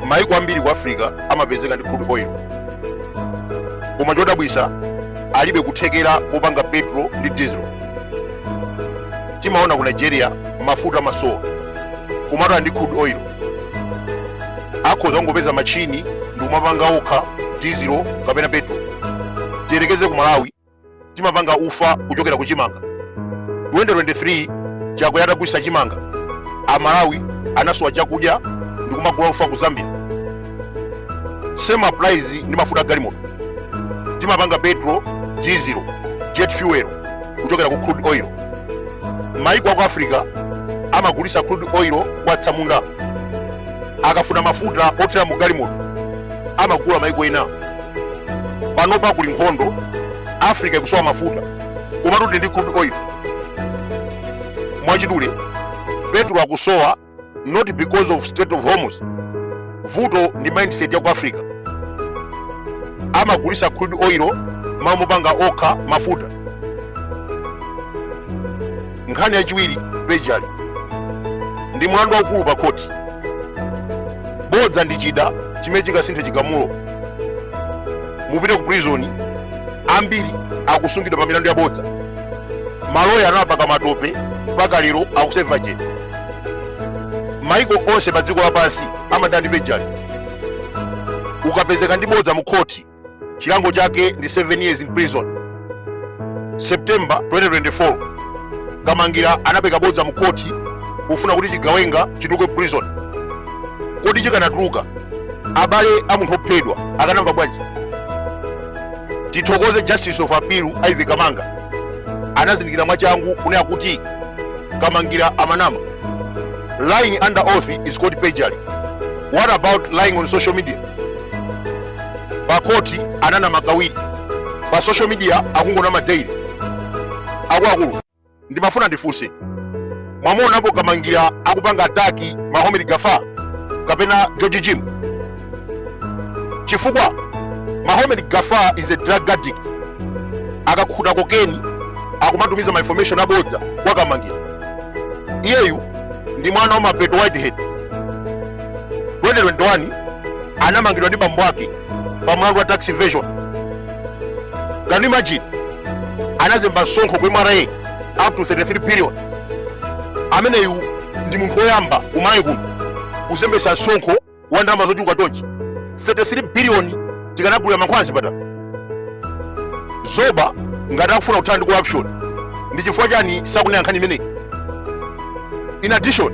maiko ambiri ku africa amapezeka ndi crude oil koma chodabwisa alibe kuthekera kopanga petro ndi diesel timaona ku nigeria mafuta amasowa komatu ali ndi crude oil akhoza kungopeza machini ndi kumapanga okha diesel kapena petro tiyerekeze ku malawi timapanga ufa kuchokera ku chimanga 2023 chakwera atagulitsa chimanga amalawi anasowa chakudya ndi kumagula ufa ku zambia same applies ndi mafuta a galimoto timapanga petro diesel jet fuel kuchokera ku crude oil maiko aku africa amagulisa crude oil kwa atsamunda akafuna mafuta othira mu galimoto amagula maiko ena panopa kuli nkhondo africa ikusowa mafuta komatu tili ndi crude oil mwachidule petro akusowa not because of strait of hormuz vuto ndi mindset ya ku africa amagulisa crude oil mmalo mopanga okha mafuta nkhani yachiwiri perjury ndi mlandu waukulu pa khoti bodza ndi chida chimene chingasinthe chigamulo mupite ku prison ambiri akusungidwa pa milandu ya bodza maloya anawapaka matope mpaka lero akuseva jail maiko onse pa dziko lapansi amadana ndi perjury ukapezeka ndi bodza mu khoti chilango chake ndi 7 years in prison september 2024 kamangira anapeka bodza mu khoti kufuna kuti chigawenga chituluke prison kodi chikanatuluka abale a munthu ophedwa akanamva bwanji tithokoze justice of appeal ivy kamanga anazindikira mwachangu kunena kuti kamangira amanama lying under oath is called perjury what about lying on social media pakhoti ananama kawiri pa social media akungonama daily akuluakulu ndimafuna ndifunse mwamuonapo kamangira akupanga ataki mahomed gafa kapena george jimu chifukwa mahomed gafa is a drug addict akakhuta kokeni akumatumiza ma information abodza kwa kamangira iyeyu ndi mwana wa mapeto whitehead 2021 anamangidwa ndi bambo ake pa mlandu wa tax evasion can you imagine anazemba msonkho ku mra up to 33 billion ameneyu ndi munthu woyamba kumalawi kuno kuzembesa msonkho wa ndalama zochuluka chonchi 33 biliyoni tikanagulira mankhwala a zipatala zaboma ngati akufuna kuthana ndi corruption ndi chifukwa chani sakunena nkhani imeneyi in addition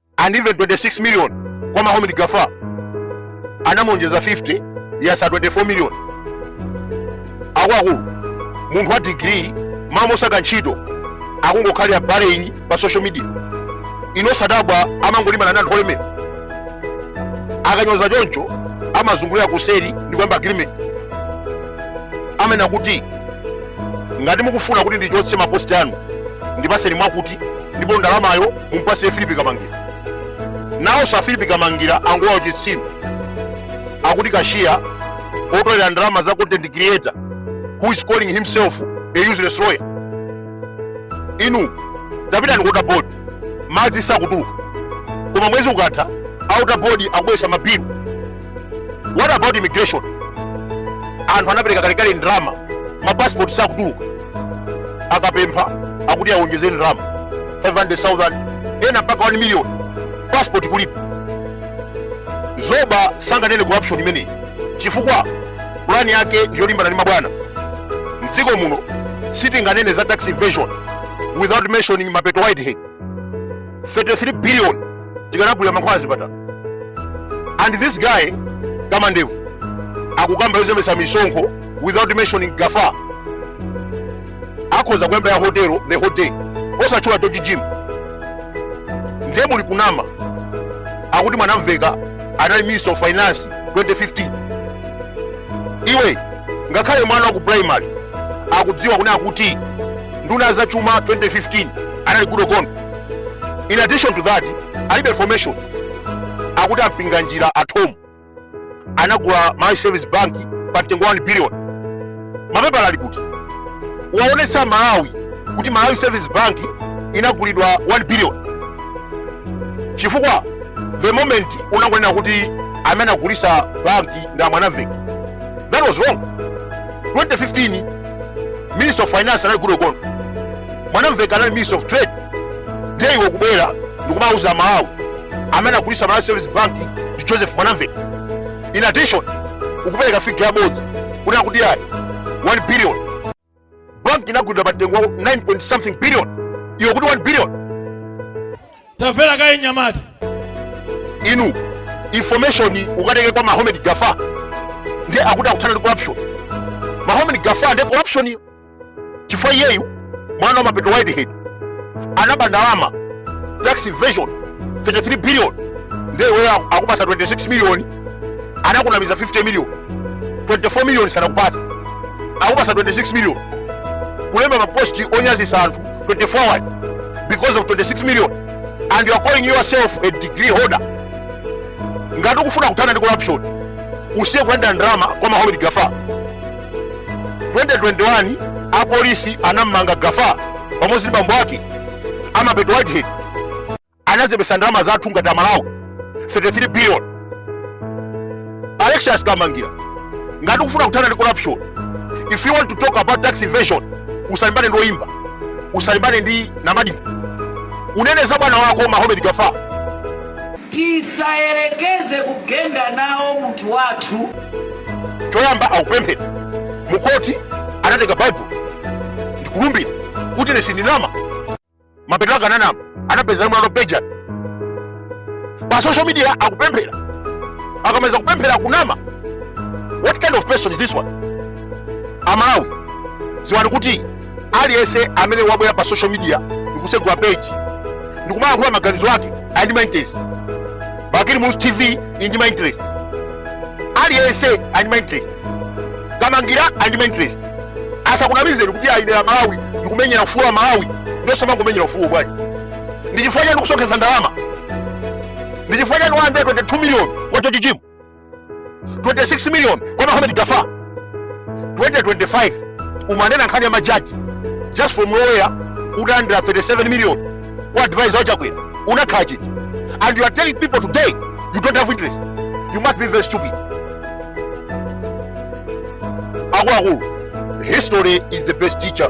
andimve 26 million kwa Mohamed Gafa anamulonjeza 50 yatsala 24 million akuluakulu munthu wa degree m'malo mosaka ntchito akungokhalira Baleni pa social media inu osadabwa amangolimbana na anthu olemera akanyoza choncho amazungulira kuseri ndi kuyamba agreement amene kuti ngati mukufuna kuti ndichotse maposti anu ndipatseni mwakuti ndipo ndalamayo mumpasiye filipi kamangira nawonso afilipi kamangira angokhala uchitsiru akuti kashiya otolera ndalama za content creator who is calling himself a useless lawyer inu tapitani ku water board madzi sakutuluka koma mwezi ukatha a water board akubweretsa mabilu what about immigration anthu anapereka kalekale ndalama mapasipoti sakutuluka akapempha akuti awonjeze ndalama 500,000 ena mpaka 1 million passport kulipa zoba sanganene corruption imeneyi chifukwa pulani yake ndiyolimbana ndi mabwana mdziko muno sitinganene za tax evasion without mentioning mapeto whitehead 33 billion tikanagulilira mankhwala mzipatala and this guy kamandevu akukamba yozembetsa misonkho without mentioning gafa akhoza kuyamba ya hotelo the whole day osatchula george jim ndiye muli kunama akuti mwanamveka anali minister of finance 2015 iwe ngakhale mwana wa ku primary akudziwa kuna akuti nduna ya za chuma 2015 anali Goodall Gondwe in addition to that alibe information akuti ampinganjira a Thom anagula Malawi Savings Bank pa mtengo wa 1 billion. Mapepala ali kuti uwaonetse Amalawi kuti Malawi Savings Bank inagulidwa 1 billion, chifukwa the moment unangonena kuti amene anagulitsa banki ndi a Mwanamveka. That was wrong. 2015 Minister of Finance anali Goodall Gondwe, mwanamveka anali Minister of Trade. ndeiwe kubwera ndikumauza amalawi amene anagulitsa malawi savings bank ndi joseph mwanamveka in addition ukupereka figa yabodza kunena kuti ayi 1 billion bank inagulidwa pa mtengo wa 9 point something billion iwo akuti 1 billion tamvera kaye mnyamata iwe information ukatenge kwa mahomed gafa ndiye akuti akuthana ndi corruption mahomed gafa ndiye corruption yo chifukwa iyeyu mwana wa mapeto whitehead anaba ndalama tax evasion 33 billion ndiye iweyo aku- akupasa 26 million anakunamiza 50 million 24 million sanakupasa akupasa 26 million kulemba maposti onyazisa anthu 24 hours because of 26 million and you are calling yourself a degree holder ngati ukufuna kuthana ndi corruption usiye kulandira ndalama kwa mahomed gafa 2021 apolisi anammanga gafa pamodzi ndi bambo ake amapeto whitehead anazembesa ndalama zathu ngati amalawi 33 billion alexious kamangira ngati ukufuna kuthana ndi corruption if you want to talk about tax evasion usalimbane ndi oyimba usalimbane ndi namadingo unene za bwana wako mahomed gafa tisayerekeze kugenda nawo munthu wathu choyamba akupemphera mukoti anatenga baibulo ndikulumbira kuti ine sindinama mapeto ake ananama anapeza mwana benjani pa social media akupemphera akamaliza kupemphera akunama what kind of person is this one amalawi ziwani kuti aliyense amene wabwera pa social media ndikusegula page ndikumayankhula maganizo ake ali ndi mainterest bakili muluzi tv ili ndi mainterest aliyense ali ndi mainterest kamangira ali ndi mainterest asakunamizeni kuti aimira malawi ndikumenyera ufulu wa amalawi ndiosamangomenyera ufulu bwanji ndichifukwa chani ndikusonkhesa ndalama ndichifukwa chani 122 million kwa chochichimu 26 million kwa Mohamed Gafa 2025 umanena nkhani ya majaji just from nowhere udalandira 37 million kwa advisor wa Chakwera unakhala chiti and you are telling people today you don't have interest you must be very stupid akuluakulu history is the best teacher